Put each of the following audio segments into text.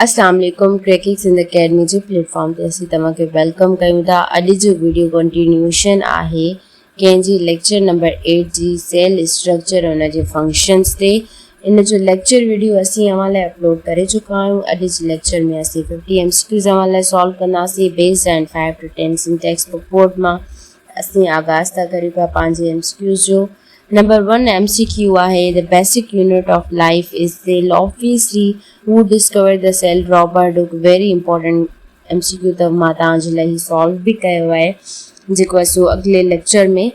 اسلام عليڪم cracking Sindh academy جي پليٽ فارم تي اسين توهان کي ويلڪم ڪيون ٿا اڄ جو ويڊيو ڪنٽينيوشن آهي ڪنهن جي ليڪچر نمبر 8 جي سيل اسٽرڪچر ان جي فنڪشنز تي ان جو ليڪچر ويڊيو اسين اوهان لاء اپلوڊ ڪري چڪا آهيون اڄ جي ليڪچر ۾ اسين 50 ايم سي ڪيوز اوهان لاء سالو ڪنداسين based on 5 to 10 syntax book board مان اسين آغاز ٿا ڪريون پيا پنهنجي ايم سي ڪيوز جو نمبر ون ايم سي ڪيو آهي The basic unit of life is cell Obviously who discovered the cell Robert Hooke Very important M C Q ته مان توهان جي لاء هي سالو به ڪيو آهي جيڪو اسو اڳلي ليڪچر ۾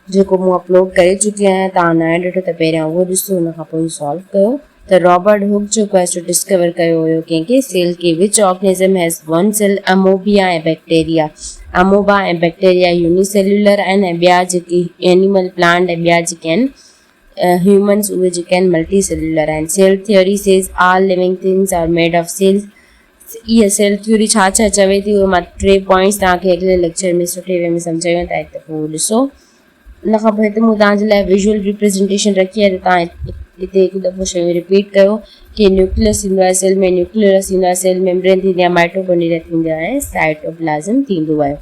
جيڪو مون اپلوڊ ڪري چڪي آهيان توهان نه آهي ڏٺو ته پهريان اهو ڏسو ان کان پوء سالو ڪيو ته رابرٽ هوڪ جو ڪوئسٽ ڊسڪور ڪيو هيو ڪنهن ڪنهن سيل کي which organism has one cell amoeba ۽ bacteria amoeba ۽ bacteria unicellular آهن ۽ ٻيا جيڪي اينيمل پلانٽ ۽ ٻيا جيڪي آهن هيومنز اهي جيڪي آهن ملٽي سيلولر آهن cell theory says all living things are made of cells اها سيل ٿيوري ڇا ڇا چوي ٿي اهي مان ٽي پوائنٽس توهان کي اڳلي ليڪچر ۾ سٺي وي ۾ سمجهايون ٿا هتي پوء ڏسو ان کان پوء هتي مون توهان جي لاء ويزوئل ريپريزنٽيشن رکي آهي ته توهان هتي هڪ دفعو شيون رپيٽ ڪيو ڪي نيوڪليس ٿيندو آهي سيل ۾ نيوڪليرس ٿيندو آهي سيل ميمبرين ٿيندي آهي مائٽوڪونڊريا ٿيندو آهي ۽ سائٽوپلازم ٿيندو آهي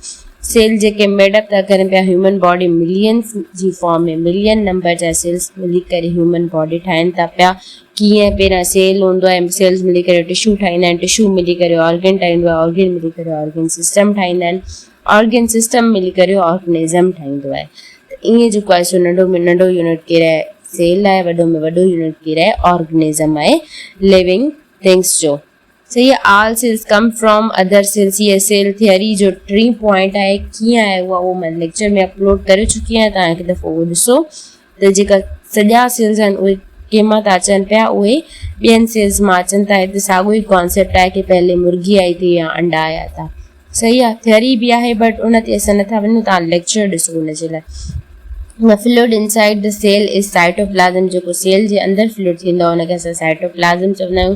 سيل جيڪي ميڊپ ٿا ڪرن پيا هيومن باڊي ملينس جي فارم ۾ ملين نمبر جا سيلس ملي ڪري هيومن باڊي ٺاهين ٿا پيا ڪيئن پهريان سيل هوندو آهي سيلس ملي ڪري ٽشو ٺاهيندا آهن ٽشو ملي ڪري آرگن ٺاهيندو آهي آرگن ملي ڪري آرگن سسٽم ٺاهيندا آهن آرگن سسٽم ملي ڪري آرگنزم ٺاهيندو آهي ته ائين جيڪو آهي سو ننڍو ۾ ننڍو يونٽ ڪير آهي سيل آهي وڏو ۾ وڏو يونٽ ڪير آهي آرگنزم آهي ليونگ ٿنگس جو صحيح آهي all cells come from other cells هي سيل ٿيوري جو ٽين پوائنٽ آهي ڪيئن آهي اها اهو مان ليڪچر ۾ اپلوڊ ڪري چڪي آهيان تان هڪ دفعو اهو ڏسو ته جيڪا سڄا سيلز آهن اهي ڪنهن مان ٿا اچن پيا اهي ٻين سيلز مان اچن ٿا هتي ساڳو ئي ڪانسيپٽ آهي ڪي پهلي مرغي آئي ٿي يا انڊا آيا ٿا صحيح آهي ٿيوري به آهي بٽ ان تي اسان نٿا وڃون تان ليڪچر ڏسو ان جي لاء نه fluid inside the cell is cytoplasm جيڪو سيل جي اندر فلوئڊ ٿيندو آهي ان کي اسان سائٽوپلازم چوندا آهيون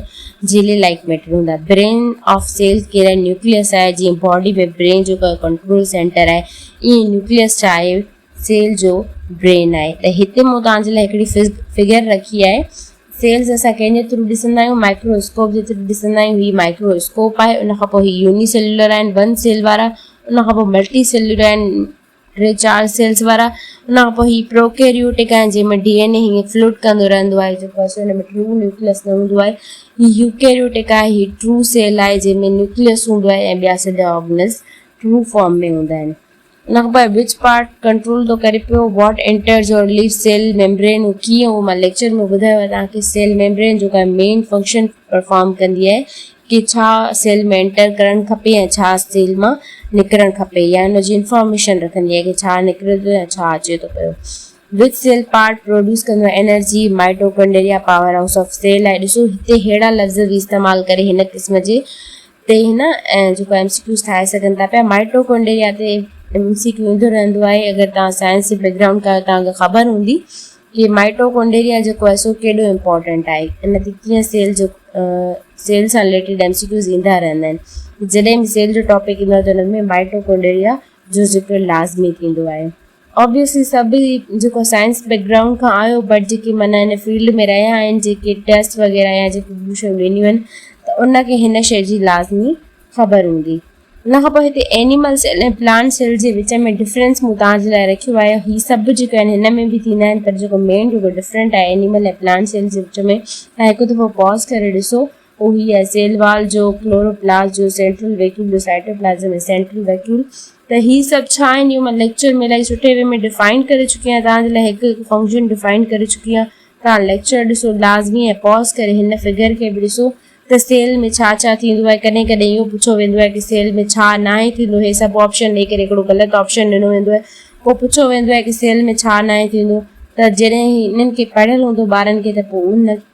جيلي لائڪ ميٽر هوندا برين آف سيلز ڪيرا نيوڪليس آهي جيئن باڊي ۾ برين جو ڪنٽرول سينٽر آهي ائين نيوڪليس ڇا آهي سيلز جو برين آهي ته هتي مون توهان جي لاء هڪڙي فگر رکي آهي سيلز اسان ڪنهن جي ٿرو ڏسندا آهيون مائڪرو اسڪوپ جي ٿرو ڏسندا آهيون هي مائڪرو اسڪوپ آهي ان کان پوء هي يوني سيلولر آهن ون سيل وارا ان کان پوء ملٽي سيلولر آهن ٽي چار سيلز وارا ان کان پوء هي پروڪيريوٽڪ آهن جنهن ۾ ڊي اين اي هيئن فلوٽ ڪندو رهندو آهي جيڪو اسو هن ۾ ٽرو نيوڪلس نه هوندو آهي هي يوڪيريوٽڪ آهي هي ٽرو سيل آهي جنهن ۾ نيوڪلس هوندو آهي ۽ ٻيا سڄا آرگنس ٽرو فارم ۾ هوندا آهن ان کان پوء وچ پارٽ ڪنٽرول ٿو ڪري پيو what enters or leaves cell membrane ڪيئن اهو مان ليڪچر ۾ ٻڌايو آهي توهان کي سيل ميمبرين جو ڪا مين فنڪشن پرفارم ڪندي آهي ڪي ڇا سيل ۾ انٽر ڪرڻ کپي ۽ ڇا سيل مان نڪرڻ کپي يا ان جي انفارميشن رکندي آهي ڪي ڇا نڪري ٿو يا ڇا اچي ٿو پيو وچ سيل پارٽ پروڊيوس ڪندو آهي energy mitochondria power house of cell آهي ڏسو هتي ههڙا لفظ به استعمال ڪري هن قسم جي تي هن جيڪو ايم سي ڪيوز ٺاهي سگهن ٿا پيا مائٽوڪونڊيريا تي ايم سي ڪيو ايندو رهندو آهي اگر تان سائنس جي بيڪ گرائونڊ کان تان خبر هوندي ڪي مائٽوڪونڊيريا جيڪو آهي سو ڪيڏو امپورٽنٽ آهي ان تي ڪيئن سيل جو سيل سان ريليٽيڊ ايم سي ڪيوز ايندا رهندا آهن جڏهن به سيل جو ٽاپڪ ايندو آهي ته ان ۾ مائٽوڪونڊيريا جو ذڪر لازمي ٿيندو آهي Obviously سڀ ئي جيڪو سائنس بيڪ گرائونڊ کان آيو بٽ جيڪي معنيٰ هن فيلڊ ۾ رهيا آهن جيڪي ٽيسٽ وغيره يا جيڪي ٻيون شيون ڏنيون آهن ته ان کي هن شيء جي لازمي خبر هوندي. ان کان پوء هتي اينيمل سيل ۽ پلانٽ سيل جي وچ ۾ ڊفرينس مون توهان جي لاء رکيو آهي هي سڀ جيڪي آهن هن ۾ به ٿيندا آهن پر جيڪو مين جيڪو ڊفرينٽ آهي اينيمل ۽ پلانٽ سيل جي وچ ۾ تهان هڪ دفعو پاز ڪري ڏسو اهي آهن سيل وال جو ڪلوروپلاس جو سينٽرل ويڪيول جو سائٽوپلازم ۽ سينٽرل ويڪيول ته هي سڀ ڇا آهن اهو مان ليڪچر ۾ الائي سٺي وي ۾ ڊفائن ڪري چڪي آهيان توهان جي لاء هڪ هڪ فنڪشن ڊفائن ڪري چڪي آهيان توهان ليڪچر ڏسو لازمي ۽ پاز ڪري هن فگر کي به ڏسو ته سيل ۾ ڇا ڇا ٿيندو آهي ڪڏهن ڪڏهن اهو پڇيو ويندو آهي ته سيل ۾ ڇا ناهي ٿيندو هي سڀ آپشن ڏيئي ڪري هڪڙو غلط آپشن ڏنو ويندو آهي پوء پڇيو ويندو آهي ته سيل ۾ ڇا ناهي ٿيندو ته جڏهن هي انهن کي پڙهيل هوندو ٻارن کي ته پوء ان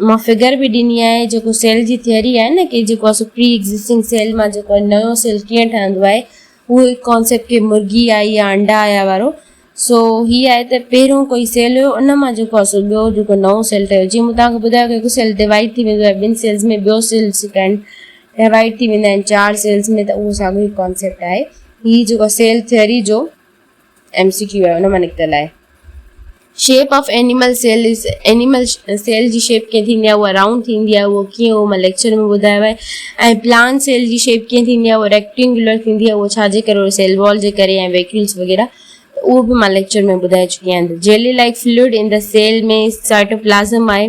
مان فگر به ڏني آهي جيڪو سيل جي ٿيوري آهي نه ڪي جيڪو اسان پري ايگزسٽنگ سيل مان جيڪو نيو سيل ڪيئن ٺهندو آهي اهو هڪ ڪانسيپٽ ڪي مرغي آئي يا انڊا آيا وارو سو هي آهي ته پهريون ڪوئي سيل هيو ان مان جيڪو اسان ٻيو جيڪو نئون سيل ٺهيو جيئن مون توهان کي ٻڌايو ڪي هڪ سيل ڊوائيڊ ٿي ويندو آهي ٻن سيلز ۾ ٻيو سيل سيڪنڊ ڊوائيڊ ٿي ويندا آهن چار سيلز ۾ ته اهو ساڳيو هي ڪانسيپٽ آهي هي جيڪو سيل ٿيوري جو ايم سي ڪيو آهي ان مان نڪتل آهي shape of animal cell is animal cell جي شيپ ڪيئن ٿيندي آهي اها رائونڊ ٿيندي آهي اهو ڪيئن اهو مان ليڪچر ۾ ٻڌايو آهي ۽ پلان سيل جي شيپ ڪيئن ٿيندي آهي اهو ريڪٽينگولر ٿيندي آهي اهو ڇا جي ڪري اهو سيل وال جي ڪري ۽ ويڪيولس وغيره اهو به مان ليڪچر ۾ ٻڌائي چڪي آهيان jelly like fluid in the cell ۾ cytoplasm آهي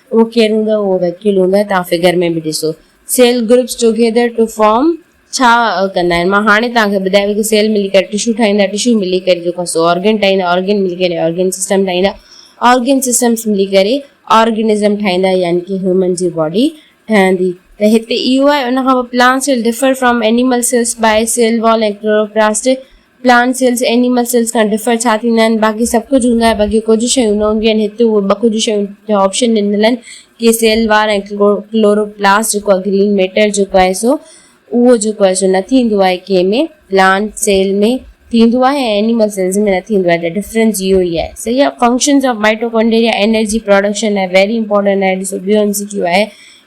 اهو ڪير هوندو اهو وڪيل هوندو توهان فگر ۾ به ڏسو cell groups together to form ڇا ڪندا آهن مان هاڻي توهان کي ٻڌايو ته سيل ملي ڪري ٽشو ٺاهيندا ٽشو ملي ڪري جو خاصو آرگن ٺاهيندا آرگن ملي ڪري آرگن سسٽم ٺاهيندا آرگن سسٽمس ملي ڪري آرگنزم ٺاهيندا يعني ڪي هيومن جي باڊي ٺهندي ته هتي اهو آهي ان کان پوء plants will differ from animal cells by cell wall ۽ chloroplast plant cells animal cells کان ڊفر ڇا ٿيندا آهن؟ باقي سڀ ڪجهه هوندو آهي باقي ڪجهه شيون نه هونديون آهن. هتي اهي ٻه ڪجهه شيون جا آپشن ڏنل آهن ڪي سيل وار ۽ ڪلوروپلاسٽ جيڪو آهي گرين ميٽر جيڪو آهي سو اهو جيڪو آهي سو نه ٿيندو آهي ڪنهن ۾ پلانٽ سيل ۾ ٿيندو آهي ۽ اينيمل سيلز ۾ نه ٿيندو آهي ته ڊفرنس اهو ئي آهي صحيح آهي functions of mitochondria energy production لاء ويري امپورٽنٽ آهي ڏسو ٻيو ايم سي ڪيو آهي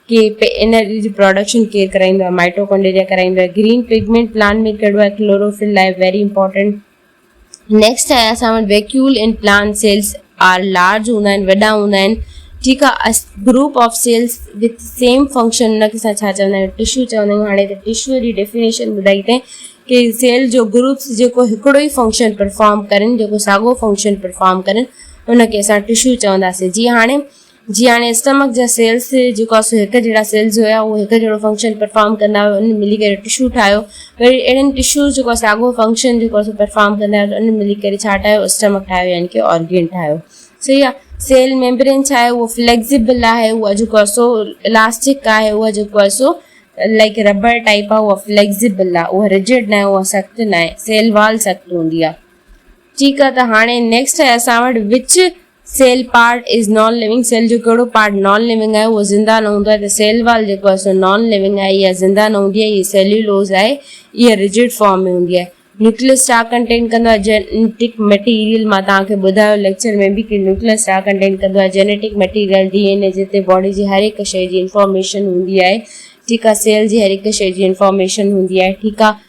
ڪي پي اين ار اي جي پراڊڪشن ڪير ڪرائيندو آهي مائٽوڪونڊيريا ڪرائيندو آهي گرين پگمينٽ پلانٽ ۾ ڪهڙو آهي ڪلوروفل لاء ويري امپورٽنٽ نيڪسٽ آهي اسان وٽ vacuole in plant cells are large هوندا آهن وڏا هوندا آهن ٺيڪ آهي group of cells with same function ان کي اسان ڇا چوندا آهيون ٽشو چوندا آهيون هاڻي ته ٽشو جي ڊيفينيشن ٻڌائي تائين ڪي سيل جو گروپس جيڪو هڪڙو ئي فنڪشن پرفارم ڪرن جيڪو ساڳو فنڪشن پرفارم ڪرن ان کي اسان ٽشو چونداسين جي هاڻي جيئن هاڻي اسٽمڪ جا سيلز جيڪو آهي سو هڪ جهڙا سيلز هيا اهو هڪ جهڙو فنڪشن پرفارم ڪندا هيا ان ملي ڪري ٽشو ٺاهيو وري اهڙن ٽشوز جيڪو آهي ساڳو فنڪشن جيڪو آهي پرفارم ڪندا هيا ان ملي ڪري ڇا ٺاهيو اسٽمڪ ٺاهيو يعني ڪي آرگين ٺاهيو صحيح آهي سيل ميمبرين ڇا آهي اهو فليڪسيبل آهي اها جيڪو آهي سو الاسٽڪ آهي اها جيڪو آهي سو لائڪ ربر ٽائپ آهي اها فليڪسيبل آهي اها رجڊ ناهي اها سخت ناهي سيل وال سخت هوندي آهي ٺيڪ آهي ته هاڻي نيڪسٽ آهي اسان وٽ which cell part is non living cell جو ڪهڙو پارٽ نان ليونگ آهي اهو زنده نه هوندو آهي ته سيل وال جيڪو آهي سو نان ليونگ آهي اها زنده نه هوندي آهي هيء سيليولوز آهي اها رجڊ فارم ۾ هوندي آهي نيوڪليس ڇا ڪنٽين ڪندو آهي جينيٽڪ ميٽيريل مان توهان کي ٻڌايو ليڪچر ۾ به ڪي نيوڪليس ڇا ڪنٽين ڪندو آهي genetic material D N A جتي باڊي جي هر هڪ شيء جي انفارميشن هوندي آهي ٺيڪ آهي سيل جي هر هڪ شيء جي انفارميشن هوندي آهي ٺيڪ آهي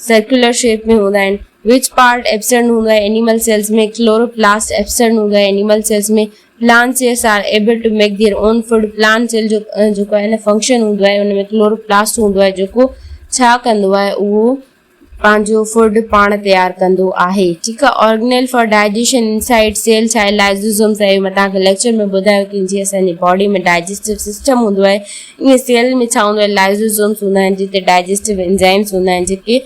سرڪيولر شيپ ۾ هوندا آهن. وچ پارٽ ايبسينڊ هوندو آهي اينيمل سيلز ۾ ڪلوروپلاسٽ ايبسينڊ هوندو آهي animal cells ۾ plant cells are able to make their own food plant cell جو جيڪو آهي نه فنڪشن هوندو آهي ان ۾ ڪلوروپلاسٽ هوندو آهي جيڪو ڇا ڪندو آهي اهو پنهنجو فوڊ پاڻ تيار ڪندو آهي ٺيڪ آهي organelle for digestion inside cell ڇا آهي لائزوزوم سائي مان تهان کي ليڪچر ۾ ٻڌايو ڪي جي اسان جي باڊي ۾ ڊائجسٽو سسٽم هوندو آهي ائين سيل ۾ ڇا هوندو آهي لائزوزومز هوندا آهن جتي ڊائجسٽو انزائمز هوندا آهن جيڪي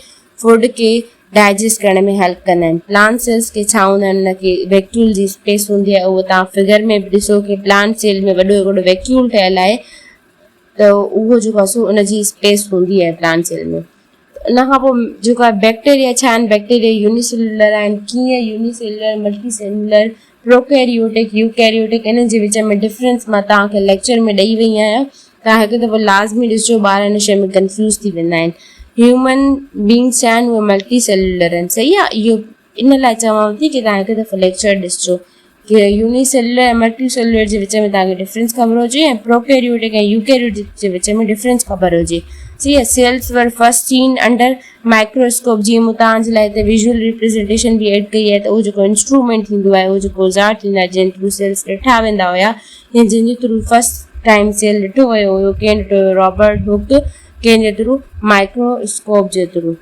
فوڊ کي ڊائجسٽ ڪرڻ ۾ هيلپ ڪندا آهن پلانٽ سيلز کي ڇا هوندا آهن ان کي ويڪيول جي اسپيس هوندي آهي اهو توهان فگر ۾ به ڏسو کي پلانٽ سيل ۾ وڏو هڪڙو ويڪيول ٺهيل آهي ته اهو جيڪو سو ان جي اسپيس هوندي آهي پلانٽ سيل ۾ ان کان پوء جيڪا بيڪٽيريا ڇا آهن، بيڪٽيريا يوني سيلولر آهن، ڪيئن unicellular, multicellular, prokaryotic, eukaryotic انهن جي وچ ۾ ڊفرنس مان توهان کي ليڪچر ۾ ڏئي وئي آهيان، توهان هڪ دفعو لازمي ڏسجو ٻار ان شيء ۾ ڪنفيوز ٿي ويندا آهن. هيومن بينگز ڇا آهن اهي ملٽي سيلولر آهن صحيح آهي اهو ان لاء چوان ٿي ڪي توهان هڪ دفعو ليڪچر ڏسجو ڪي يوني سيلولر ۽ ملٽي سيلولر جي وچ ۾ توهان کي ڊفرنس خبر هجي ۽ پروڪيريوٽڪ ۽ يوڪيريوٽڪ جي وچ ۾ ڊفرنس خبر هجي سي اي cells were first seen under microscope جي مون توهان جي لاء هتي ويزول ريپريزنٽيشن به ايڊ ڪئي آهي ته اهو جيڪو انسٽرومينٽ ٿيندو آهي اهو جيڪو اوزار ٿيندا آهن جنهن ٿرو سيلز ڏٺا ويندا هيا يا جنهن جي ٿرو فرسٽ ٽائيم سيل ڏٺو ويو هيو ڪين ڏٺو هيو رابرٽ هوڪ ڪين جي ٿرو مائڪروسڪوپ جي through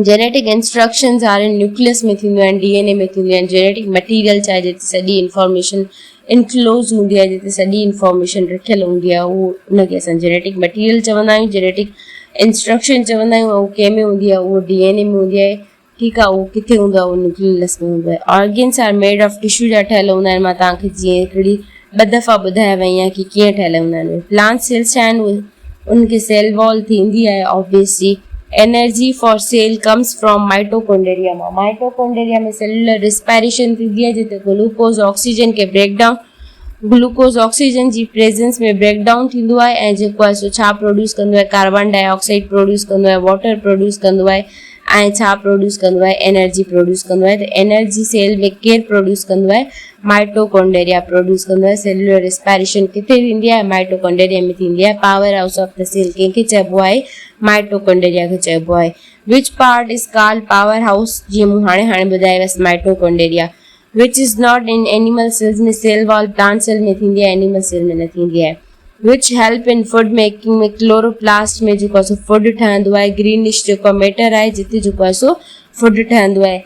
genetic instructions are in nucleus ۾ ٿينديون آهن، ڊي اين اي ۾ ٿينديون آهن، جينيٽڪ مٽيريل چاهي جتي سڄي انفارميشن انڪلوز هوندي آهي، جتي سڄي انفارميشن رکيل هوندي آهي، اهو ان کي اسان جينيٽڪ مٽيريل چوندا آهيون، جينيٽڪ انسٽرڪشن چوندا آهيون، اهو ڪنهن ۾ هوندي آهي، اهو ڊي اين اي ۾ هوندي آهي، ٺيڪ آهي، اهو ڪٿي هوندو آهي، اهو نيوڪليس ۾ هوندو آهي. Organs are made of tissue جا ٺهيل هوندا آهن، مان توهان کي جيئن هڪڙي ٻه دفعا ٻڌايا ويا آهن ڪي ڪيئن ٺهيل هوندا آهن اهي پلانٽ سيلز ڇا آهن اهي انهن کي سيل وال ٿيندي آهي آبيس جي energy for cell comes from mitochondria مان مائٽوڪونڊريا ۾ سيلولر ريسپائريشن ٿيندي آهي جتي گلوڪوز آڪسيجن کي بريڪ ڊائون گلوڪوز آڪسيجن جي پريزنس ۾ بريڪ ڊائون ٿيندو آهي ۽ جيڪو آهي سو ڇا پروڊيوس ڪندو آهي ڪاربان ڊاء آڪسائيڊ پروڊيوس ڪندو آهي واٽر پروڊيوس ڪندو آهي ۽ ڇا پروڊيوس ڪندو آهي انرجي پروڊيوس ڪندو آهي ته انرجي سيل ۾ ڪير پروڊيوس ڪندو آهي مائٽوڪونڊريا پروڊيوس ڪندو آهي، سيلولر ريسپائريشن ڪٿي ٿيندي آهي، مائٽوڪونڊريا ۾ ٿيندي آهي، power house of the cell ڪنهن کي چئبو آهي، مائٽوڪونڊريا کي چئبو آهي، which part is called power house, جيئن مون هاڻي هاڻي ٻڌايوس، mitochondria which is not in animal cells ۾ cell wall plant cell ۾ ٿيندي آهي، اينيمل سيل ۾ نه ٿيندي آهي، which help in food making ۾ chloroplast ۾ جيڪو آهي سو فوڊ ٺهندو آهي، گرينش جيڪو ميٽر آهي جتي جيڪو آهي سو فوڊ ٺهندو آهي.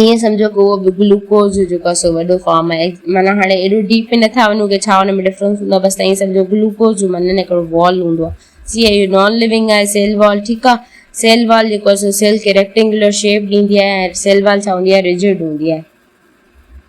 ائين سمجهو ڪو به گلوڪوز جيڪو سو وڏو فارم آهي معنيٰ هاڻي ايڏو ڊيپ ۾ نٿا وڃون ڪي ڇا ان ۾ ڊفرنس هوندو بس ائين سمجهو گلوڪوز جو معنيٰ هڪڙو وال هوندو آهي سي آهي اهو نان ليونگ آهي سيل وال ٺيڪ آهي سيل وال جيڪو سو سيل کي ريڪٽينگولر شيپ ڏيندي آهي سيل وال ڇا هوندي آهي رجڊ هوندي آهي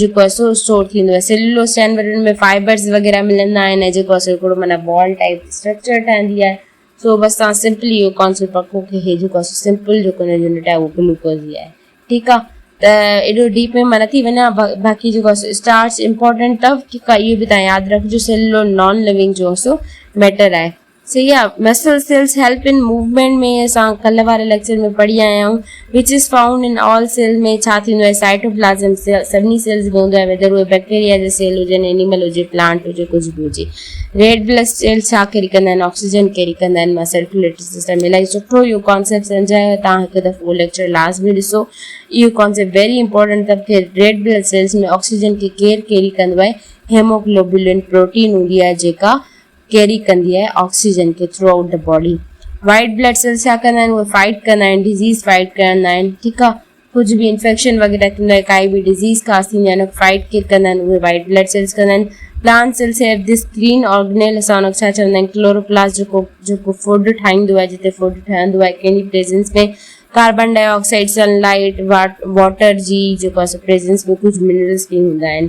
جيڪو اسو اسٽور ٿيندو آهي سيلولوز چينورن ۾ فائبرز وغيره ملندا آهن ۽ جيڪو اسو هڪڙو معنيٰ بال ٽائيپ اسٽرڪچر ٺهندي آهي سو بس تان سمپلي اهو ڪانسيپٽ پڪو کي هي جيڪو اسو سمپل جيڪو هن يونٽ آهي اهو گلوڪوز ئي آهي ٺيڪ آهي ته ايڏو ڊيپ ۾ مان نٿي وڃان باقي جيڪو اسو اسٽارچ امپورٽنٽ اٿو ٺيڪ آهي اهو به تان ياد رکجو سيلولو نان لوينگ جو اسو ميٽر آهي سيئا، muscle cells help in movement ۾ اسان ڪلهه واري ليڪچر ۾ پڙهي آيا آهيون وچ از فائونڊ ان آل سيلز ۾ ڇا ٿيندو آهي سائٽوپلازم سڀني سيلز ۾ هوندو آهي ويڌر اهي بيڪٽيريا جا سيل هجن اينيمل هجي پلانٽ هجي ڪجهه به هجي ريڊ بلس سيلز ڇا ڪيري ڪندا آهن آڪسيجن ڪيري ڪندا آهن مان سرڪيوليٽري سسٽم الائي سٺو اهو ڪانسيپٽ سمجهايو تان هڪ دفعو اهو ليڪچر لازمي ڏسو اهو ڪانسيپٽ ويري امپورٽنٽ اٿم کي ريڊ بلس سيلز ۾ آڪسيجن کي ڪير ڪيري ڪندو آهي هيموگلوبولين پروٽين هوندي آهي جيڪا ڪيري ڪندي آهي آڪسيجن کي throughout the body white blood cells ڇا ڪندا آهن اهي فائيٽ ڪندا آهن ڊزيز فائيٽ ڪندا آهن ٺيڪ آهي ڪجهه به انفيڪشن وغيره ٿيندو آهي ڪائي به ڊزيز خاص ٿيندي آهي ان فائيٽ ڪير ڪندا آهن اهي وائيٽ بلڊ سيلز ڪندا آهن plant cells here this green organelle اسان ان کي ڇا چوندا آهن ڪلوروپلاس جيڪو جيڪو فوڊ ٺاهيندو آهي جتي فوڊ ٺهندو آهي ڪنهن جي presence ۾ carbon dioxide sun light water جي جيڪو اسان پريزنس ۾ ڪجهه منرلس به هوندا آهن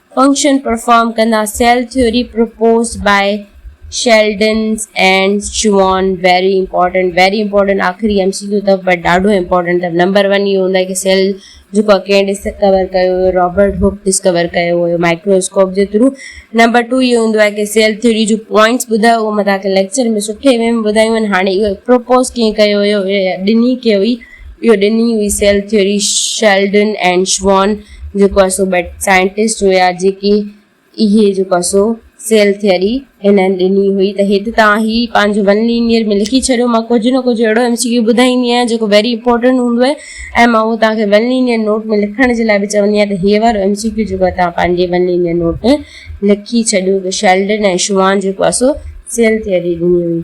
فنڪشن پرفارم ڪندا cell theory proposed by Schleiden and Schwann very important very important آخري ايم سي ڪيو اٿو بٽ ڏاڍو امپورٽنٽ اٿو نمبر ون اهو هوندو آهي ڪي سيل جيڪو آهي ڪنهن ڊسڪور ڪيو هيو رابرٽ هوڪ ڊسڪور ڪيو هيو مائڪروسڪوپ جي ٿرو نمبر ٽو اهو هوندو آهي ڪي سيل ٿيوري جو پوائنٽس ٻڌايو اهو متان ڪي ليڪچر ۾ سٺي ويم ٻڌايون آهن هاڻي اهو پرپوز ڪئين ڪيو هيو ڏني ڪي هئي اهو ڏني هئي سيل ٿيوري شيلڊن ۽ شوان جيڪو آهي سو بيٽ سائنٽسٽ هيا جيڪي اهي جيڪو آهي سو سيل ٿيوري هنن ڏني هئي ته هت تان هي پنهنجو ون لينيئر ۾ لکي ڇڏيو مان ڪجهه نه ڪجهه اهڙو ايم سي ڪيو ٻڌائيندي آهيان جيڪو ويري امپورٽنٽ هوندو آهي ۽ مان اهو تان کي ون لينيئر نوٽ ۾ لکڻ جي لاء به چوندي آهيان ته هي وارو ايم سي ڪيو جيڪو آهي تان پنهنجي ون لينيئر نوٽ ۾ لکي ڇڏيو ته شيلڊن ۽ شوان جيڪو آهي سو سيل ٿيوري ڏني هئي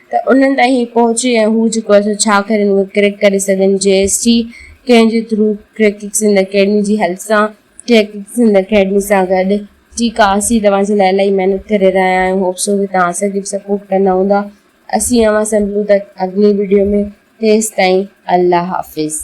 ته انهن تائين پهچي ۽ هو جيڪو اثر ڇا ڪرين اهو ڪريڪ ڪري سگهن جي ايس ٽي ڪنهن جي ٿرو ڪريڪڪ سنڌ اڪيڊمي جي هيلپ سان ڪريڪڪ سنڌ اڪيڊمي سان گڏ ٺيڪ آهي اسين توهان جي لاء الائي محنت ڪري رهيا آهيون هوپ سو ڪي توهان اسان کي به سپورٽ ڪندا هوندا اسين اوهان سان ملون ٿا اڳلي وڊيو ۾ تيستائين الله حافظ.